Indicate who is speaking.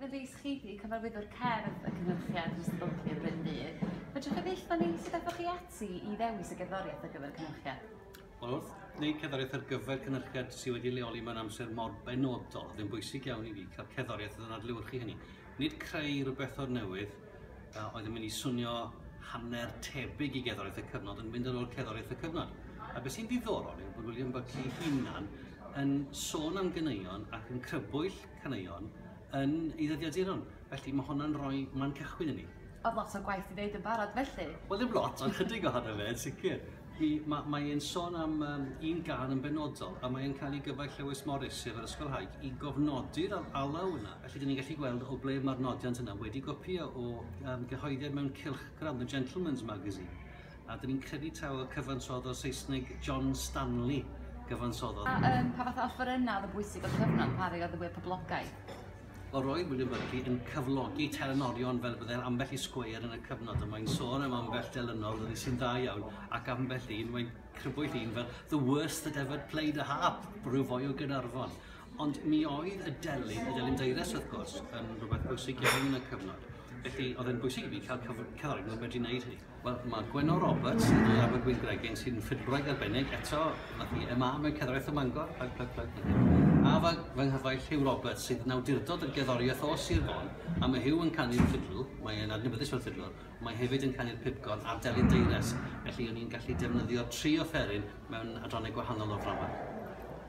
Speaker 1: Stephen Rees, chi di cyfarwyddwr cerdd y cynhyrchiad dros y bylchau Bryn Ddydd. Fedrwch chi ddeitha ni sut aethoch chi ati i ddewis y gerddoriaeth ar gyfer y cynhyrchiad? Wel, wrth wneud cerddoriaeth ar gyfer cynhyrchiad sydd wedi leoli mewn amser mor benodol, oedd yn bwysig iawn i fi cael cerddoriaeth oedd yn adlewyrchu hynny. Nid creu rhywbeth o'r newydd, Yy, oedd yn mynd i swnio hanner tebyg i gerddoriaeth y cyfnod yn mynd yn ôl cerddoriaeth y cyfnod. A beth sy'n ddiddorol yw bod William Buckley hunan yn sôn am ganeuon ac yn crybwyll caneuon yn ei ddyddiaduron. Felly mae hwnna'n rhoi man cychwyn i ni. Oedd lot o gwaith i ddeud yn barod felly? Wel ddim lot, ond chydig ohono fe yn sicr. Hi, ma- mae e'n sôn am yym un gân yn benodol, a mae'n cael ei gyfaill Lewis Morris, sef yr ysgolhaig, i gofnodi'r al- alaw yna. Felly, dyn ni'n gallu gweld o ble mae'r nodiant yna wedi gopïo o yym gyhoeddiad mewn cylchgrawn, The Gentleman's Magazine, a dyn ni'n credu taw y cyfansoddodd o'r Saesneg John Stanley gyfansoddodd. A yym, pa fath o offerynnau oedd yn bwysig o'r cyfnod, pa rhai oedd y fwya poblogaidd? Mae Roy William-Buckley yn cyflogi telenorion fel byddai'r ambell i sgweier yn y cyfnod a mae'n sôn am ambell delynor ddydi sy'n dda iawn ac ambell un mae'n crybwyll un fel the worst that ever played a harp, rhyw foi o Gaernarfon. Ond mi oedd y delyn, y delyn deires wrth gwrs, yn rhywbeth bwysig iawn yn y cyfnod. Felly oedd e'n bwysig i fi cael cyf- cyfarwydd nhw'n medru wneud hynny. Wel, mae Gwenno Roberts yn dwy Abergwyn Gregin sy'n ffidwraig arbennig. Eto, nath i MA mewn cerddoriaeth ym Mangor. Plug, plug, plug. A fy, fy nghyfaill Hugh Roberts sydd yn awdurdod y gerddoriaeth o Sir Fon. A mae Hugh yn canu'r ffidl, mae e'n adnabyddus fel ffidlwr, ond mae hefyd yn canu'r pibgor a'r delyn deires, felly o'n i'n gallu defnyddio tri offeryn mewn adrannau gwahanol o'r ddrama.